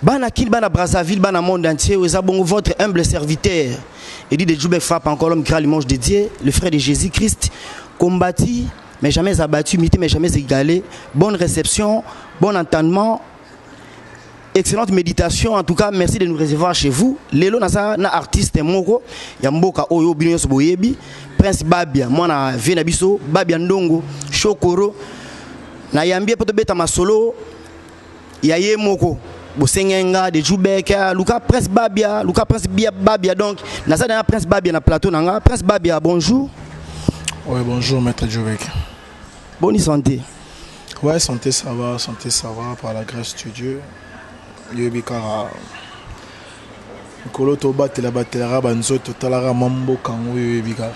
Bana Kin, Bana Brazzaville, Bana Monde entier, eza bongo votre humble serviteur. Eddie de Djoubek frappe encore l'homme qui rend l'image de Dieu, le frère de Jésus-Christ, combattu, mais jamais abattu, mité, mais jamais égalé. Bonne réception, bon entendement, excellente méditation. En tout cas, merci de nous recevoir chez vous. Lelo naza na artiste moko ya mboka oyo bino nyonso boyebi, Prince Babia, mwana vie na biso, Babia Ndongo, Shokoro. Nayambi ye mpo tobeta masolo ya ye moko bosengenga de jubek luka prince babia luka prince bia babia donc naza na prince babia na plateau na nga prince babia bonjour oui bonjour maître jubek bonne santé ouais santé ça va santé ça va par la grâce de dieu yebi kaka mikolo tobatela batelaka banzoto totalaka mwa mboka yango oyo yebi kaka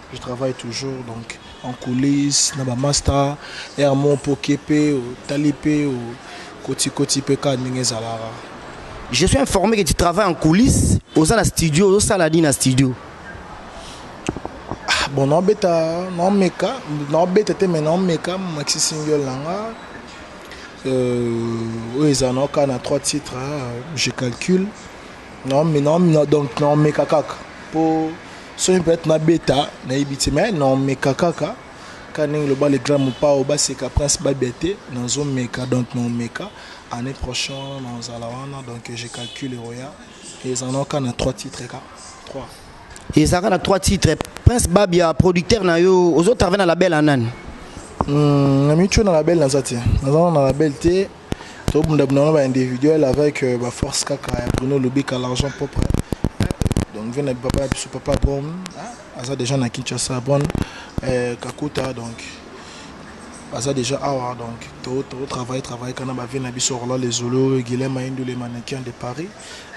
Je travaille toujours donc en coulisse na ba masta air mon poke pe tali pe koti koti pe ka ndenge ezalaka. Je suis informé que tu travailles en coulisse oza na studio ozo sala nini na studio? Ah, bon naobeta naomeka naobeta te mais naomeka maxi single na nga euh, oyo ezala naoka na trois titres hein, je calcule Non, mais non, non, donc non, mais kakaka. Pour soki peut-être na beta na ibiti mais non, mais kakaka. Kaning le bas le grand mopao bas c'est prince babete dans zo meka donc non meka année prochaine dans zalawana donc je calcule roya et en ont qu'un trois titres ka trois. Et ça a trois titres prince babia producteur na yo aux autres travail na label anani. Hum, na micho na label na zati. Na zana na label te. To bunda bunda na ba individuel avec euh, ba force kaka ya Bruno Lubika l'argent propre. Donc vena papa biso papa bon aza déjà na Kinshasa bon euh, Kakuta donc baza déjà awa donc to to travailler travailler kana ba vena biso rola les zolo Guilhem Ayindu les mannequins de Paris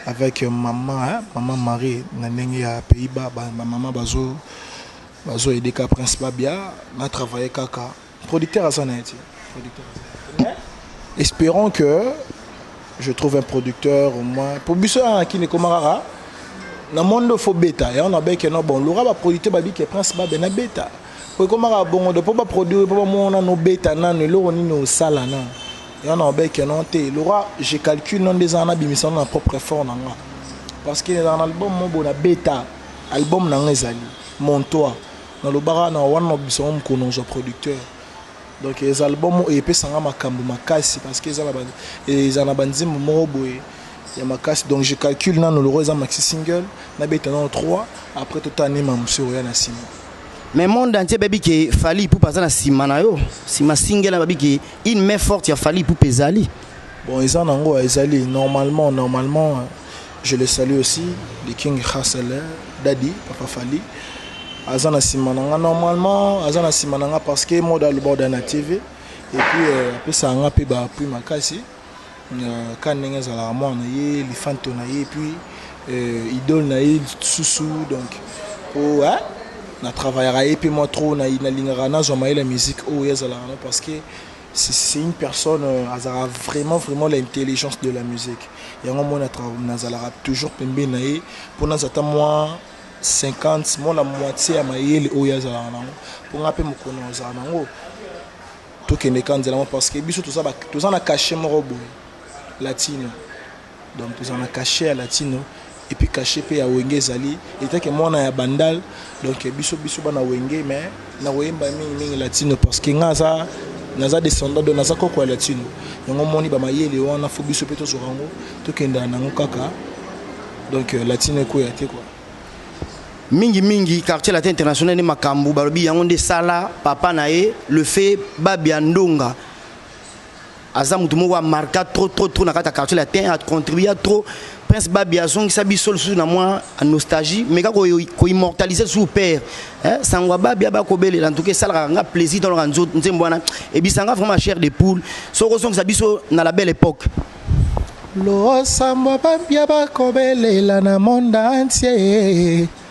avec euh, maman hein, maman Marie na ndenge ya Pays-Bas ba, ba maman bazo bazo aider ka prince Babia na travailler kaka Producteur aza na ye te. Producteur aza na ye te. Mais espérons que je trouve un producteur au moins. Pour biso ya na kini ekoma kaka na mondo faut beta. Yango na beke no bon luka ba producteur babi ke Prince Babe na beta. Po ekoma kaka bongo de po ba produire po ba mona no beta nanu eloko nini osala na. Yango na beke no te. Luka je calcule no ndeza na bimisa na propre effort na nga. Parce que na album mobo na beta album na nga ezali mon toit. Na lobaka na wana na bisa ngo mukuna ozwa producteur donc eza album oyo epesa nga makambu makasi parce que eza na ba eza na ba nzembo moko boye ya makasi donc je calcule nanu loko eza maxi single na beta nanu 3 après to ta nima musu oya na sima mais monde entier babi ke Fally Ipupa aza na sima na yo sima single babi ke une main forte ya Fally Ipupa ezali bon eza nango ezali normalement normalement Je le salue aussi, le King Hustle, Daddy, Papa Fali. Aza na sima nanga normalement, aza na sima nanga parce que moda le bord na TV et puis euh, apesa nga pe ba appui makasi. Euh, ka ndenge ezalaka mwana na ye lifanto na ye puis euh, idole na ye susu donc po hein? na travaillaka ye mpe mwa trop nalingaka nazwa mayele ya musique oyo ye azalaka no parce que C'est une personne euh, azalaka vraiment vraiment l'intelligence de la musique yango moi nazalaka toujours pembeni na ye mpo naza ata mwa 50 mona moitié ya mayele oyo azalaka nango mpo ngai mpe mokolo nazala nango tokende ka nzela yango parce que biso toza na cachet moko boye latino Donc tozala na cachet ya latino et puis cachet pe ya wenge ezali etant que mwana ya bandal donc biso biso bana wenge mais na koyemba mingi mingi latino parce que nga aza naza descendant donc naza koko ya latino yango moni ba mayele wana fo biso pe tozwa yango tokendela na yango kaka donc euh, latino ekoya te quoi mingi mingi quartier latin international nde makambo balobi yango nde sala papa na ye le fait babia ndonga aza mutu moko a marka trop trop trop na kati ya quartier latin a contribua trop prince babi azongisa biso lisusu na mwa nostalgie meka koimmortalise ko lisusu père eh, sango ya babi aba kobelela ntuka esalaka nga plaisir tolaka nzembo wana ebisanga vraiment chair de poule soki ozongisa biso na la belle époque losambo babia bakobelela na monde entier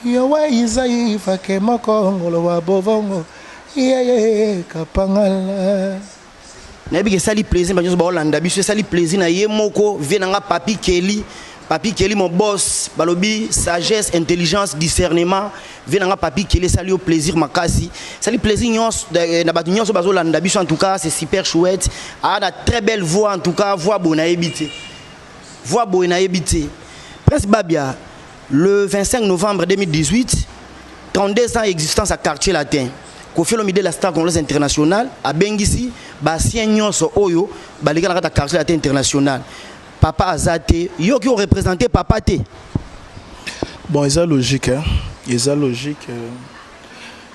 Yo wa Isaï fake moko ngolo wa bovongo ye ye kapangala. Nayebi ke esali plaisir ba nionso bao landa biso esali plaisir na ye moko vieux na nga Papy Kelly Papy Kelly mon boss balobi sagesse intelligence discernement vieux na nga Papy Kelly esali yo plaisir makasi esali plaisir nionso na batu nionso bazo landa biso en tout cas c'est super chouette a na très belle voix en tout cas voix boye nayebi te voix boye nayebi te Prince Babia Le 25 novembre 2018, 32 ans existence à quartier latin. Kofi Olomide la star congolaise internationale abengisi basien nyonso oyo baleka na kati ya quartier latin international. Papa aza te, yo ki orepresente papa te. Bon, eza logique, hein? eza logique. Euh,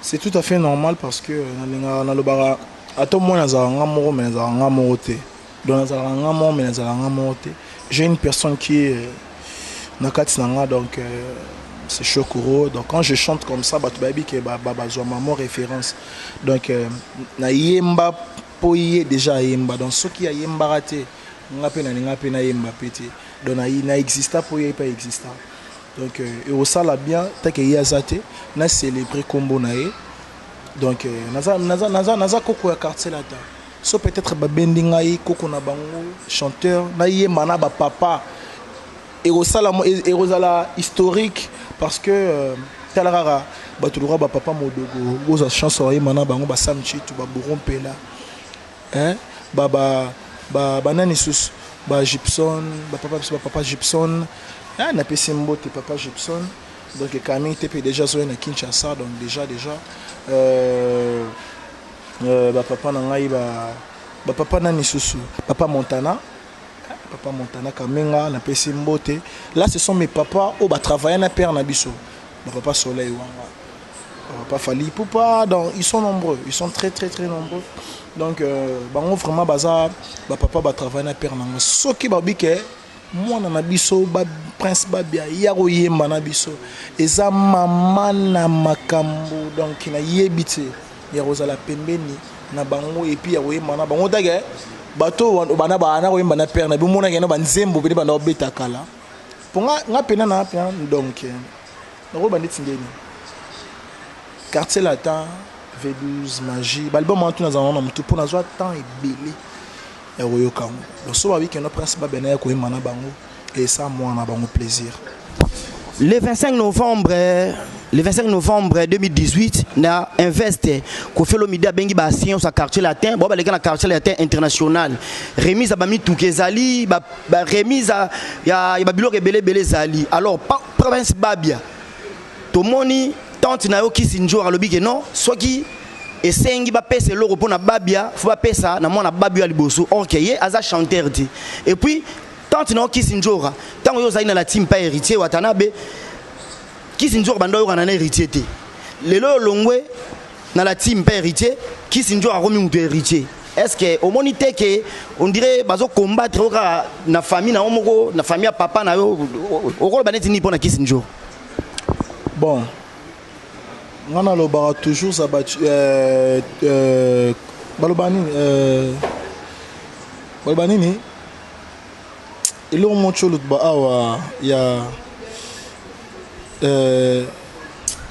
c'est tout à fait normal parce que euh, nalingaka nalobaka ata omoi nazalaka nga moko me nazalaka nga moko te. donc nazalaka nga moko me nazalaka nga moko te j'ai une personne qui est euh, na kati na nga donc euh, c'est chokoro donc quand je chante comme ça bato bayebi ke bazwa mamo référence donc euh, nayemba mpo ye déjà ayemba donc soki ayembaka te nga mpe nalinga mpe nayemba mpe te donc na exista mpo ye mpe exista donc ekosala bien take ye aza te na célébrer nkombo na ye donc naza koko ya quartier lata Ce peut etre ba bendi ngai koko na bango chanteur na yemba na ba papa ekosala ekozala historique parce que euh, tala kaka bato lokola ba papa modogo bozwa chance ya koyemba na bango ba sam chitu ba bouro mpela hein? ba ba ba banani susu ba gibson ba papa biso ba papa gibson hein? napesi mbote papa gibson donc camille tepe déjà azoya na kinshasa donc déjà déjà euh, Euh, ba papa na ngai ba ba papa nani susu papa Montana papa Montana Kamenga na pesi mbote là ce sont mes papas au ba travailler na père na biso ba papa Soleil wanga papa Fali Poupa donc ils sont nombreux ils sont très très très nombreux donc euh, bango vraiment baza ba papa ba travailler na père na ngai soki ba bike Mwana na biso ba prince babia ya ko yemba na biso eza mama na makambu donc na yebi tse ya ko zala pembeni na bango et puis ya ko yemba na bango take bato bana ba na ko yemba na père na bi mona ke na ba nzembo pe bana ko beta kala po nga nga pena na pena donc na ko bandi tsindeni quartier latin V12 magie ba album en tout na zana na mutu po na zwa temps ebele ya koyoka yango loso ba week-end prince babia na ya koyemba na bango et ça moi na bango plaisir le 25 novembre le 25 novembre 2018 na invest kofi olomide abengi ba science ya quartier latin bao baleka na quartier latin international remise ya bamituka ezali baremise ya babiloko ebele ebele ezali alors province babia Tomoni tante na yo kisi njora alobi ke non soki esengi ba pesa eloko pona babia faut ba pesa na mwana babio ya liboso or ke ye aza chanteur te et puis tante na yo kisi njora tango yo ozali na la team pa heritier watanabe kisi njora banda oyokana na heritier te lelo oyo olongwe na la team pa heritier kisi njora akomi moto ya heritier est ce que omoni te ke on dirait bazo combattre yo kaka na famille na yo moko na famille ya papa na yo okoloba neti nini pona kisi njora Bon, nga nalobaka toujours habacuc euh, euh, baloba nini euh, baloba nini eloko moko ti oloba awa ya euh,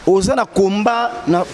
oza na combat na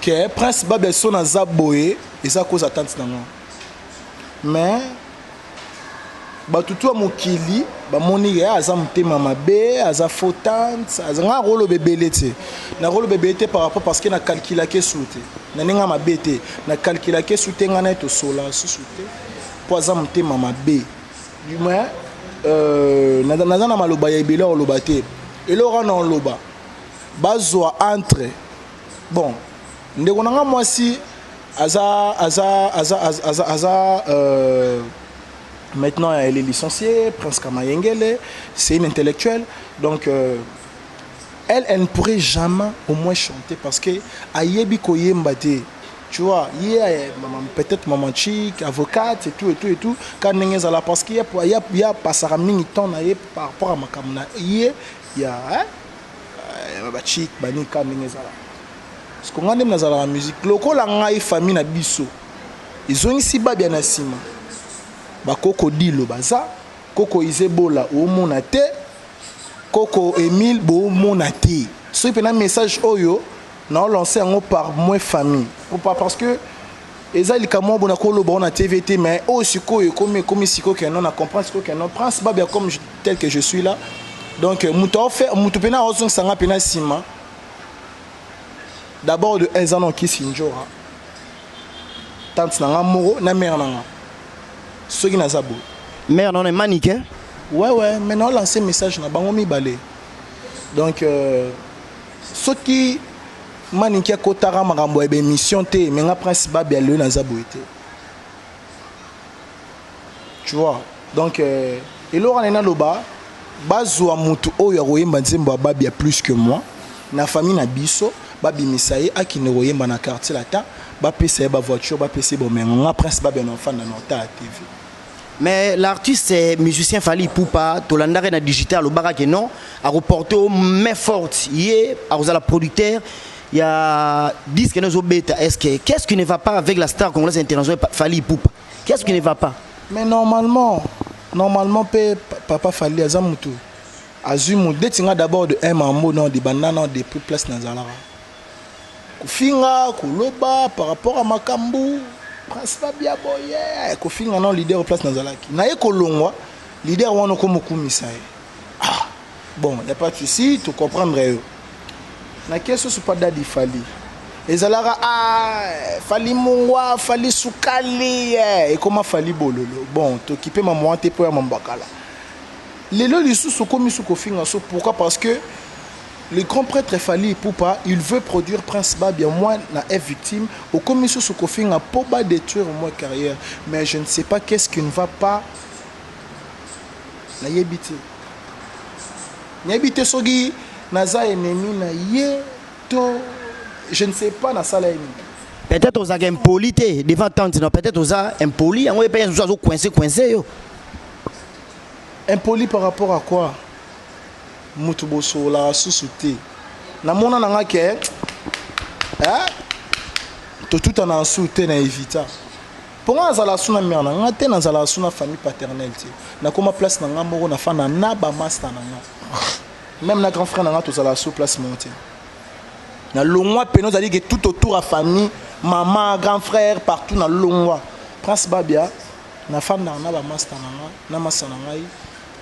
que prince babia son aza boye eza cause atante na nga mais bato tu ya mokili bamoni ye aza motema mabe aza faux tante aza nga nakoloba ebele te nakoloba ebele te par rapport parce que na calculake su te na ndenge ya mabe te na calculake su te ngai naye tosola susu te mpo aza motema mabe du moins euh, naza na maloba ya ebele ya koloba te eloko wana oloba bazua entre bon ndeko na nga mwasi aza aza aza aza aza, aza euh, maintenant elle est licenciée Prince Kamayengele c'est une intellectuelle donc euh, elle elle ne pourrait jamais au moins chanter parce que ayebi koyemba te tu vois ye yeah, peut-être maman chic avocate et tout et tout et tout ka ndenge ezala parce que ya ya ya pasaka mingi temps na ye par rapport à makambo na ye ya hein? Eh, ba chic ba nika ndenge ezalaka siko ngai nde nazalaka musique lokola ngai famille na biso ezongisi babia na nsima bakoko dilo baza koko izebola omona te koko emile bomona te soki mpena message oyo naolance yango par moi famille popa parce que eza likambo moko bona koloba ona tv te mais oyo sikoyo ekomi ekomi sikoyo keno na comprendre sikoyo keno prince babia comme tel que je suis là donc moto aofe moto mpena aozongisa nga mpena nsima d'abord de eza na okisi njora tante na nga moko na mare na nga soki naza boye mare nano emanike ouais ouais mais naolance message na bango mibale donc euh, soki manike akotaka makambo ya baémission te me nga prince babi alelo naza boye te tu vois donc euh, eloko wana naloba bazwa motu oyo akoyemba nzembo ya babia plus que moi na famille na biso babimisa ye akende koyemba na quartier latin bapesa ye bavoiture bapesa ye bomengo nga prince babia na ofanda na ota ya tv mais l'artiste eh, musicien fali pupa tolandaka na digital alobaka ke non akoporte o main forte ye akozala producteur Il y a disque nous beta est-ce que qu'est-ce qui ne va pas avec la star congolaise internationale Fally Ipupa Qu'est-ce qui ne va pas Mais normalement normalement pe papa Fally aza mutu azui mu deti nga d'abord de un mambo non de banana de plus place na zalaka kofinga koloba par rapport à makambu prince babia boye kofinga non leader place nazalaki naye kolongwa leader wana okomokumisa ye Ah, bon, y a pas de souci, tu comprendre yo. Na keso supa dadi fali. Ezalaka ah, fali mungwa, fali sukali, eh, ekoma fali bololo. Bon, tokipe maman te po ya mambakala. Lelo lisusu komi su kofinga so pourquoi parce que le grand prêtre Fali Ipupa, il veut produire Prince Babia, moi, na est victime, au commission sous Kofinga, pour bas détruire moi carrière. Mais je ne sais pas qu'est-ce qui ne va pas nayebi te nayebi te soki naza ennemi na ye to je ne sais pas nasala ye nini peut-être ozalaka impoli te devant tante non peut-être oza impoli yango ye mpe mosusu azo coince coince yo impoli par rapport à quoi moto bosololaka susu te namona na nga ke eh? totutana nsu te na evita Po nga nazala su na mère na nga te, nazala su na famille paternelle te. Nakoma place na nga moko, nafanda na ba masta na nga. Meme na grand frère na nga tozala su place moko te. Na longwa pene ozali ke tout autour ya famille, maman, grand frère, partout na longwa. Prince Babia, nafanda na ba masta na nga, na masta na ngai,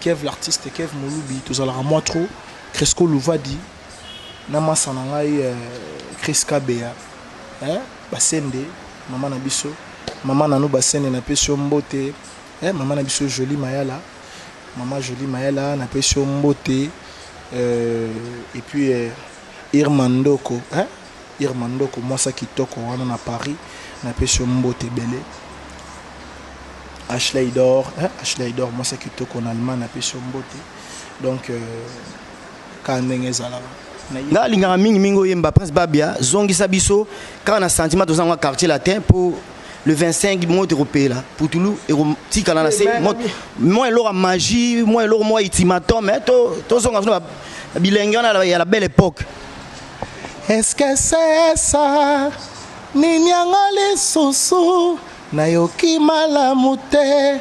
Kev l'artiste, Kev Mulubi, tozalaka mwa trop, Cresco Luvadi, na masta na ngai, euh, Chris Kabeya. Eh? Basende maman na biso. Maman nanou basende na pesi yo mbote eh maman na biso jolie mayala maman jolie mayala na pesi yo mbote euh, et puis euh, irma ndoko eh irma ndoko mwasa kitoko wana na paris na pesi yo mbote ebele ashleidor eh ashleidor mwasa kitoko na allemagne na pesi yo mbote donc euh, kaka ndenge ezalaka nga alingaka mingi mingi oyemba prince babia zongisa biso kaka na sentiment toza yango quartier latin mpo le 25 moto ekopela putulu ekotikala na se mwa eloko ya magie mwa eloko mwa itimatome eh, tozonga to bilenge wana ya la belle époque eske sesa nini yango lisusu nayoki malamu te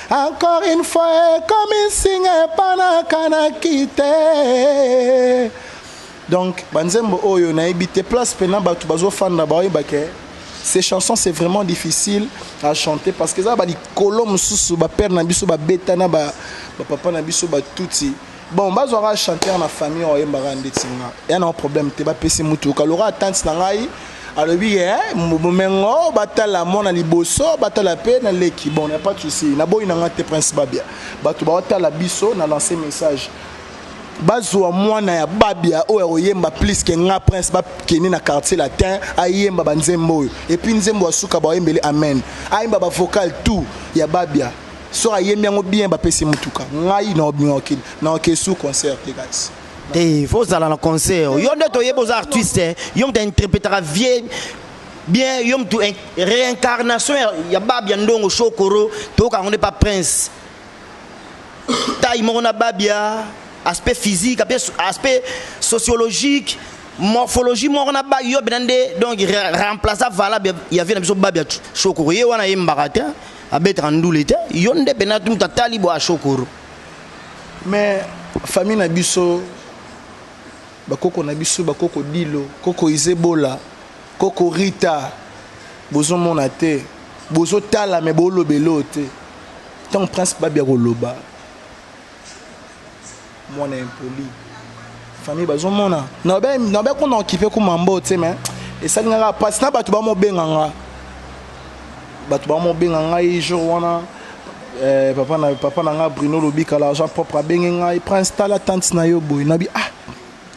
Encore une fois ekomi nsinga epa nakanaki te donc banzembo oyo nayebi te place mpena bato bazofanda baoyeba ke ces chansons c'est vraiment difficile à chanter parce que eza balikolo mosusu bapere na biso babeta na bapapa na biso batuti bon bazwaka chanteur na famille oyo ayembaka ndeti nga ya na problème te bapesi mutuka loka atante na ngai alobi ye eh, bomengo batala mwana liboso batala mpe na leki bon na pas souci naboyi na ngai te prince babia bato baotala biso na lance message bazwa mwana ya babia oyo akoyemba plus ke nga prince bakende na quartier latin ayemba banzembo oyo epuis nzembo ya suka baoyembeli amen ayemba bavocal tout ya babia Soki ayembi yango bien ba pesi mutuka. Ngai na obinga okili. Na oke sous concert te guys. Te faut zala na concert. Yo nde toyebi oza artiste. Eh. Yo mta interpretaka vie bien yo mtu réincarnation ya babia ndongo shokoro toyoka yango nde pa prince tai moko na babia aspect physique aspect sociologique morphologie moko na bagi yo bena nde donc remplaça valable ya vie na biso babi ya shokoko ye wana ayembaka te abetaka ndule te yo nde pena mutu atali bo ashokoro mais famille na biso bakoko na biso bakoko dilo koko izebola koko rita bozomona te bozotala me bolobela oyo te ntango prince babi akoloba mwana impoli famille bazomona nabe kona okipe kuma mbo te me esali nga kaka mpasi na bato bamobenga nga bato bamobenga ngai jour wana eh, papa na papa na nga bruno lobika la jean propre abenge ngai prince tala tante na yo boye nabi ah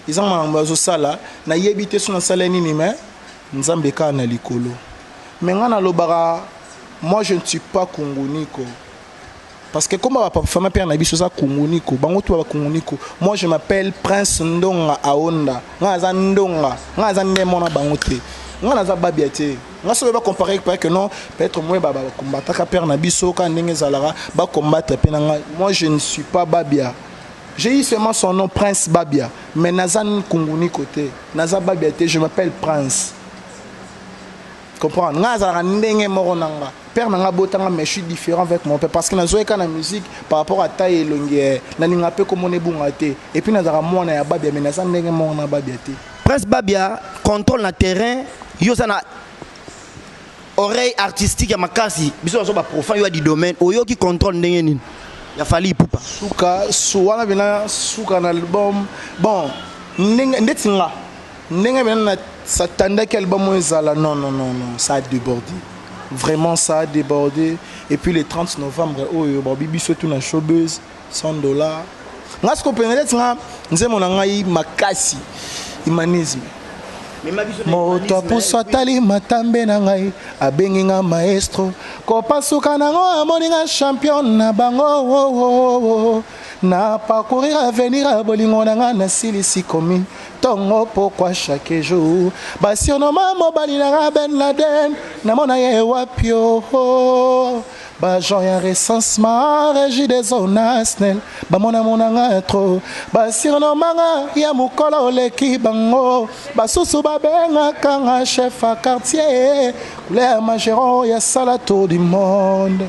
eza makambo azosala nayebi te so nasala nini me nzambe kaka na likolo me ngai nalobaka moi je ne suis pas kongoniko Parce que comme papa fana père na biso za kunguniko, bango tout ba kunguniko. Moi je m'appelle Prince Ndonga Aonda. Nga za Ndonga, nga za ndemo na bango te. Nga na za babia te. Nga sobe ba comparer peut que non, peut-être moi ba ba combataka père na biso ka ndenge zalara, ba combattre pe na nga. Moi je ne suis pas babia. J'ai eu seulement son nom Prince Babia, mais na za kunguniko te. Na za babia te, je m'appelle Prince. comprendre nga azalaka ndenge moko na nga père na nga abota nga mais je suis différent avec mon père parce que nazoyeka na musique par rapport à taille elongi eh, nalinga mpe komona ebunga te et puis nazalaka mwana ya babia mais naza ndenge moko na babia te prince babia contrôle na terrain yo oza na oreille artistique ya makasi biso nazo baprofane yo ya di domaine oyoki contrôle ndenge nini ya fali ipupa suka su wana bina suka na album bon ndenge ndeti nga Ndenge bena na s'attendaki album oyo ezala non non non non ça a deborde vraiment ça a deborde et puis le 30 novembre oyo babi biso tout na showbuzz 100 dollars nga siko pene neti nga nzembo na ngai makasi humanisme moto apusu atali matambe na ngai abengi nga maestro kopasuka nango amoni nga champion na bango oh, oh, oh, na parcourir avenir ya bolingo na ngai nasilisi komi Tongo pourquoi chaque jour ba surnomme mobali na nga Ben Laden namona ye wapi oh ba gens ya recensement régie des eaux nationales bamona mona nga trop ba surnomme nga ya mokolo oleki bango basusu babengaka nga chef ya quartier couleur mageron ya sala tour du monde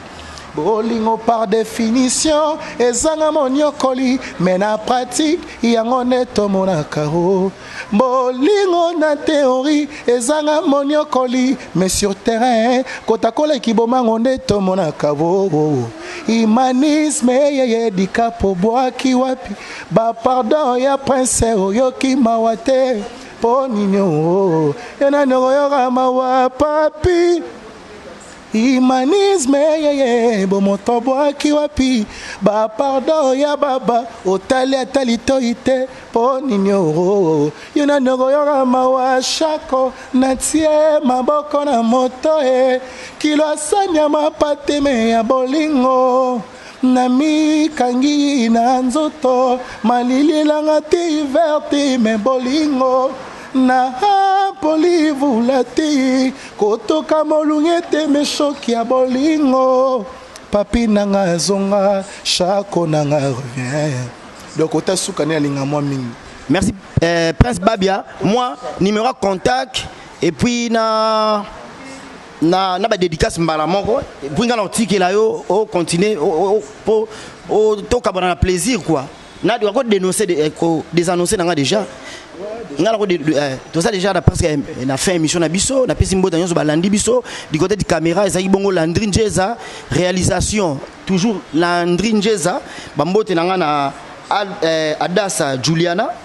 Bolingo par definition ezanga moniokoli mais na pratique yango nde tomonaka o bolingo na theorie ezanga moniokoli mais sur terrain kotakola kibomango nde tomonaka o humanisme eyeye dikapo bwaki wapi ba pardon ya prince oyoki mawa te mpo nini o yo nani okoyoka mawa papi Humanisme yeye bomoto bwaki wapi ba pardon ya baba otali ata litoyi te po nini oro yo nani okoyoka mawa shako natie maboko na moto e kilo asani ya mapate me ya bolingo Namikangi na nzoto malili elanga te hiver te me bolingo na poli vula te kotoka molunge ete me shoki ya bolingo papi nanga zonga shako nanga revien donc ota suka nde alinga mwa mingi merci euh, prince babia mwa numéro ya contact et puis na na, na ba dédicace mbala moko puis nga na otikela yo o continuer po tokabana na plaisir quoi na ko dénoncer de, eh, ko désannoncer nanga déjà nga nako eh, toza déjà na presque eh, na fin émission na biso napesi mbota nyonso balandi biso du côté de caméra ezalaki bongo landri njeza réalisation toujours landri njeza bambote na nga na adasa juliana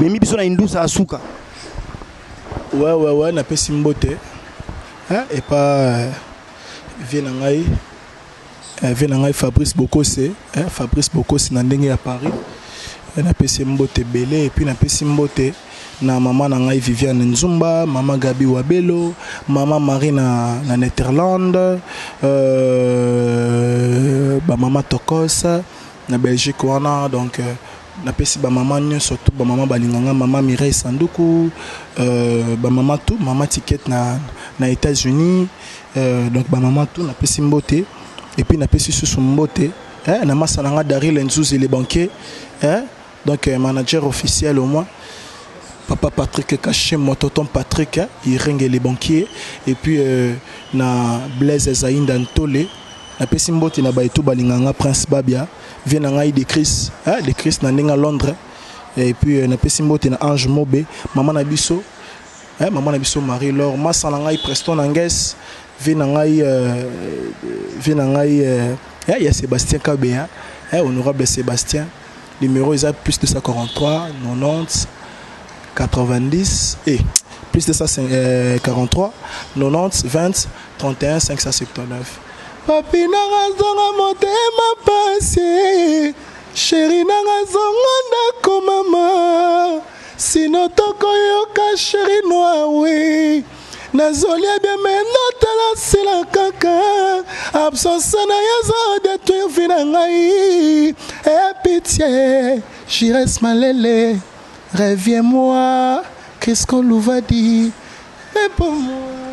memi biso na indusa ya suka wewewe napesi mbote epa eh, vie na ngai eh, vie na ngai fabrice bokose eh, fabrice bokose na ndenge ya paris napesi mbote ebele epuis napesi mbote na mama na ngai viviane nzumba mama gabi wabelo mama marie na, na netherlande euh, bamama tokos na belgique wana donc euh, Na pesi ba maman nionso tout ba maman balinga nga maman Mireille sanduku euh ba maman tout maman ticket na na etats unis euh donc ba maman tout na pesi mbote et puis na pesi susu mbote eh na masa na nga Daryl Nzuzi le banquier eh donc euh, manager officiel au moins papa Patrick Kashim mon tonton Patrick eh, Irenge le banquier et puis euh, na Blaise Zainda Ntole Na pesi mbote na baye tout balinga nga prince babia vie na ngai de chris eh de chris na ndenge à londres eh, et puis euh, na pesi mbote na ange mobe maman na biso eh maman na biso marie lor masa na ngai preston anges vie na ngai euh, vie na ngai euh, eh ya sébastien kabeya eh honorable sébastien numéro eza plus 243 90 90 et eh, plus 243 90 20 31 579 Papi nanga zonga motema pasi Chéri nanga zonga ndako mama Sino tokoyoka chéri noir oui Nazolia bien mais natala sila kaka Absence na ye ezo détruire vie na ngai Eh pitié Jires Malele Reviens-moi Crisco Louvadi Mais pour moi